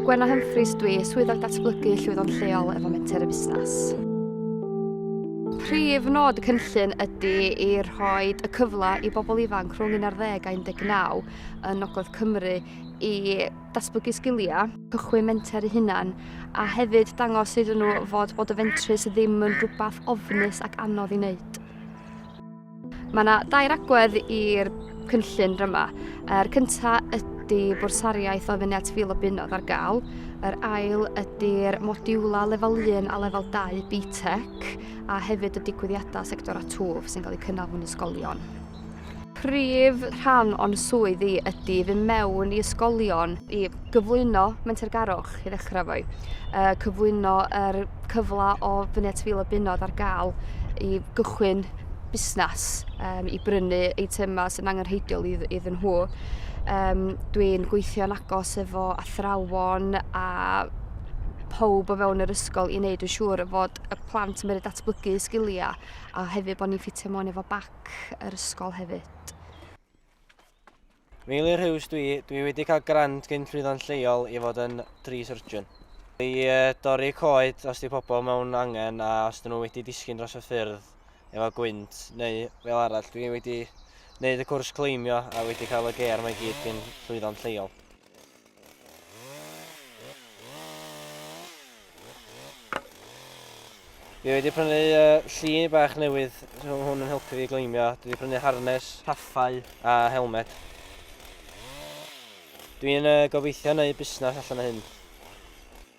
Gwenna Humphreys dwi, Swyddog Datblygu Llwyddon Lleol efo Menter y Busnes. Prif nod y cynllun ydy i rhoi y cyfle i bobl ifanc rhwng 11 a 19 yn Nogledd Cymru i datblygu sgiliau, cychwyn menter eu hunan, a hefyd dangos iddyn nhw fod bod y fentrus ddim yn rhywbeth ofnus ac anodd i wneud. Mae yna dair agwedd i'r cynllun ryma. Yr cynta ydy bwrsariaeth o fyny at fil o bunodd ar gael. Yr ail ydy'r modiwla lefel 1 a lefel 2 BTEC a hefyd y digwyddiadau sector a twf sy'n cael eu cynnal mewn ysgolion. Prif rhan o'n swydd i ydy fy mewn i ysgolion i gyflwyno mentergarwch i ddechrau fwy, cyflwyno yr cyfle o fyny at fil o bunodd ar gael i gychwyn busnes um, i brynu eitemau sy'n angenrheidiol iddyn nhw. Um, Dwi'n gweithio'n agos efo athrawon a pob o fewn yr ysgol i wneud yn siŵr fod y plant yn mynd datblygu sgiliau a hefyd bod ni'n ffitio mewn efo bac yr ysgol hefyd. Meilir Huws dwi, dwi wedi cael grant gyn llwyddo'n lleol i fod yn tree surgeon. I dorri coed os di pobl mewn angen a os dyn nhw wedi disgyn dros y ffyrdd efo gwynt neu fel arall. Dwi wedi wneud y cwrs cleimio a wedi cael y ger mae gyd gyn llwyddo'n lleol. Fi wedi prynu uh, llun bach newydd, so hwn yn helpu fi gleimio. Dwi wedi prynu harnes, haffau a helmet. Dwi'n uh, gobeithio neu busnes allan o hyn.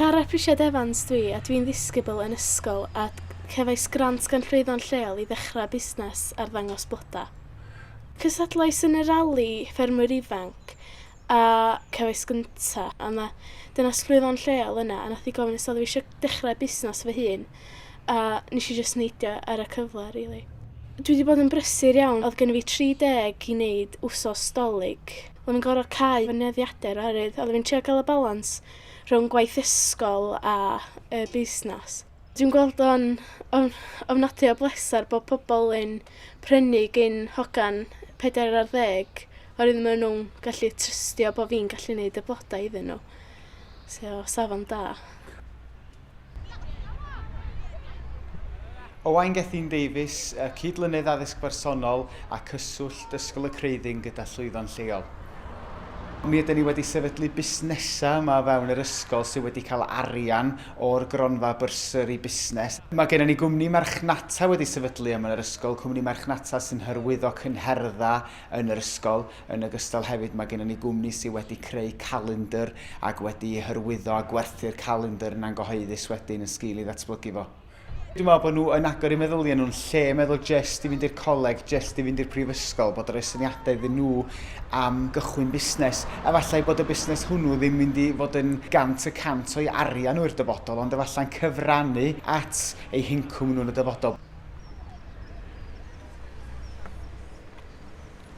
Cara Prisiad Evans dwi a dwi'n ddisgybl yn ysgol a cefais grant gan Llwyddo'n Lleol i ddechrau busnes arddangos bloda. Cystadlais yn y rali ffermwyr ifanc a cefais gynta a ma' dynas Llwyddo'n Lleol yna a nath hi gofyn os odd fi isio dechrau busnes fy hun. a nesh i jyst neidio ar y cyfle rili. Dwi 'di bod yn brysur iawn o'dd gynno fi tri deg i neud wsos 'Dolig. O'n i'n gor'o' cau fy nyddiade'r oherwydd odden i'n trio ga'l y balans rhwng gwaith ysgol a y busnas. Dwi'n gweld o'n o'n ofnadwy o bleser bo' pobol yn prynu gin hogan pedair ar ddeg oherwydd ma' nw'n gallu trystio bo' fi'n gallu neud y bloda iddyn n'w. So safon da. Owain Gethin Davies, y Cyd-lynydd Addysg Bersonol a Cyswllt Ysgol y Creuddyn gyda llwyddo'n lleol. Mi ydyn ni wedi sefydlu busnesau yma o fewn yr ysgol sydd wedi cael arian o'r gronfa Bursary Busnes. Mae gennym ni gwmni marchnata wedi sefydlu yma yn yr ysgol, cwmni marchnata sy'n hyrwyddo cynherddau yn yr ysgol. Yn ogystal hefyd mae gennym ni gwmni sydd wedi creu calendr ac wedi hyrwyddo a gwerthu'r calendr yna'n gyhoeddus wedyn yn sgil i ddatblygu fo. Dwi'n meddwl bod nhw yn agor eu meddyliau nhw'n lle meddwl jest i fynd i'r coleg, jest i fynd i'r prifysgol, bod yn rhoi syniadau iddyn nhw am gychwyn busnes. Efallai bod y busnes hwnnw ddim mynd i fod yn gant y cant o'i arian nhw i'r dyfodol ond efallai'n cyfrannu at eu hincwm nhw yn y dyfodol.